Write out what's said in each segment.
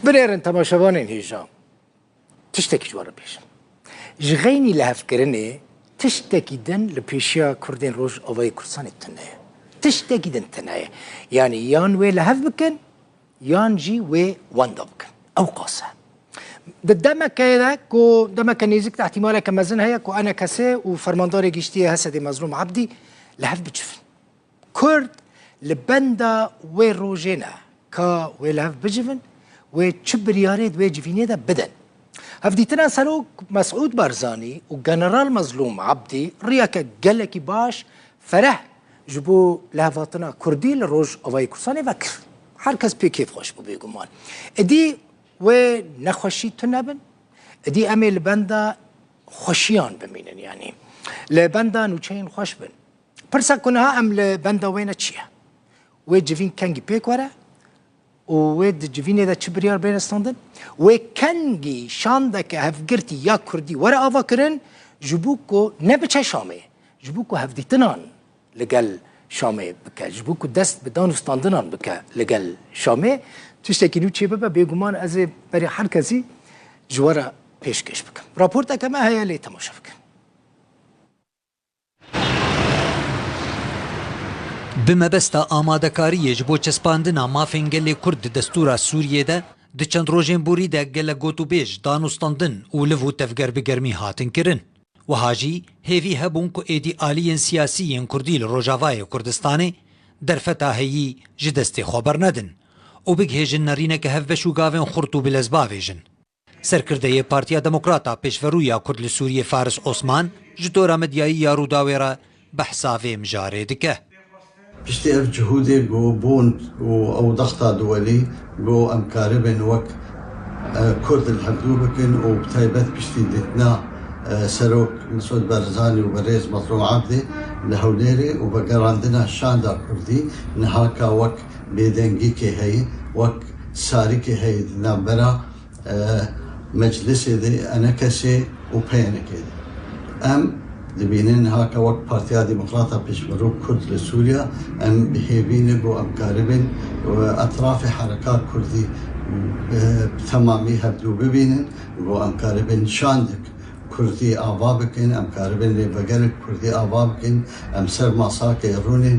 Binêrin temaşevanên hêjan, tiştekî ji wan re bêjin. Ji xeynî lihevkirinê tiştekî din li pêşiya Kurdên Rojavayê Kurdistanê tune ye. Tiştekî din tune ye. Yanî yan wê lihev bikin, yan jî wê wenda bikin. Ew qas e. Di demekê de ku demeke nêzik de îhtîmaleke mezin heye ku enekesê û Fermandarê Giştî yê Hesedê Mezlûm Ebdî lihev bicivin. Kurd li benda wê rojê ne ka wê li hev bicivin wê çi biryarê di wê civînê de bidin. Hevdîtina Serok Mesûd Barzanî û General Mezlûm Ebdî riyeke gelekî baş fereh ji bo lihevatina Kurdî li Rojavayê Kurdistanê vekir. Her kes pê kêf xweş bû bêguman. Idî wê nexweşî tune bin, idî em ê li benda xweşiyan bimînin yanî li benda nûçeyên xweş bin. Pirsa ku niha em li benda wê ne çi ye? Wê civîn kengî pêk were û wê di civînê de çi biryar bêne standin? Wê kengî şandeke hevgirtî ya kurdî were avakirin ji bo ku nebiçe Şamê, ji bo ku hevdîtinan li gel Şamê bike, ji bo ku dest bi dan û standinan bike li gel Şamê. Tiştekî nû çê bibe bêguman ez ê berê her kesî ji we re pêşkêş bikim. Raporteke me heye lê temaşe bikin. Bi mebesta amadekariyê ji bo çespandina mafên gelê Kurd di destûra Sûriyê de, di çend rojên borî de gelek gotûbêj, danûstandin û liv û tevger bi germî hatin kirin. Wiha jî hêvî hebûn ku êdî aliyên siyasî yên Kurdî li Rojavayê Kurdistanê derfeta heyî ji destê xwe bernedin û bigihêjin nerîneke hevbeş û gavên xurt û bilezbavêj in. Serkirdeyê Partiya Demokrat a Pêşverûya Kurd li Sûriyê Faris Osman ji tora medyayî ya Rûdawê re behsa vê mijarê dike. Piştî ev cihûdê ku bûn û ew dex da duwelî ku em karibin wek Kurd li hev dû bikin û bi taybet piştî dîtina Serok Mesûd Barzanî û Birêz Mazlûm Abdê li Hewlêrê û vegerandina Şanda Kurdî niha ka wek bêdengîkê heye wek sarikê heye di navbera meclisê de enekesê û peyenekê de. Em dibînin niha ke wek Partiya Demokrata Pêşmerûk Kurd li Sûriya em bi hêvî ne ku em karibin etrafê herekat kurdî bi temamî hevdû bibînin ku em karibin şandek kurdî ava bikin, em karibin lê vegerek kurdî ava bikin em ser masakê rûnên.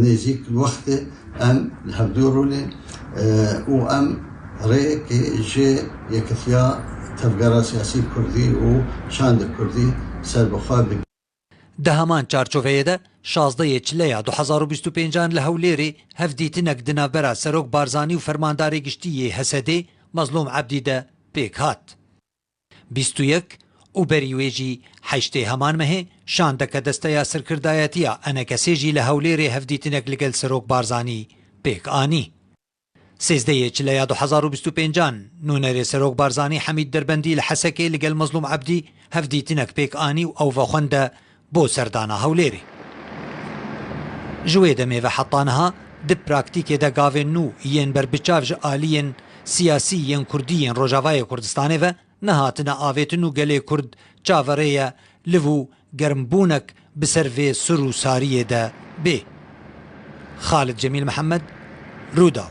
Nêzîk wextê em li hevdû rûnê û em rêyekê ji Yekitiya Tevgera Siyasî Kurdî û Çanda Kurdî ser bi xwe bi. Di heman çarçoveyê de şazdeh yê Çile ya du hezar û bîst û pênc an li Hewlêrê hevdîtinek di navbera Serok Barzanî û Fermandarê Giştî yê HSDê Mezlûm Ebdî de pêk hat. Bîst û yek û berî wê jî heştê heman mehê şandeke Desteya Sirkirdayetiya Enekesê jî li Hewlêrê hevdîtinek ligel Serok Barzanî pêk anî. Sêzdeyê Çileya du hezar û bîst û pênc an nûnerê Serok Barzanî Hemîd Derbendî li Hesekê ligel Mezlûm Ebdî hevdîtinek pêk anî û ew vexwend e Bo serdana Hewlêrê. Ji wê demê ve heta niha di praktîkê de gavên nû yên berbiçav ji aliyên siyasî yên kurdî yên Rojavayê Kurdistanê ve nehatine avêtin û gelê Kurd çaverê ye liv û germbûnek bi ser vê sur û sariyê de bê. Xalid Cemîl Mihemed, Rûdaw.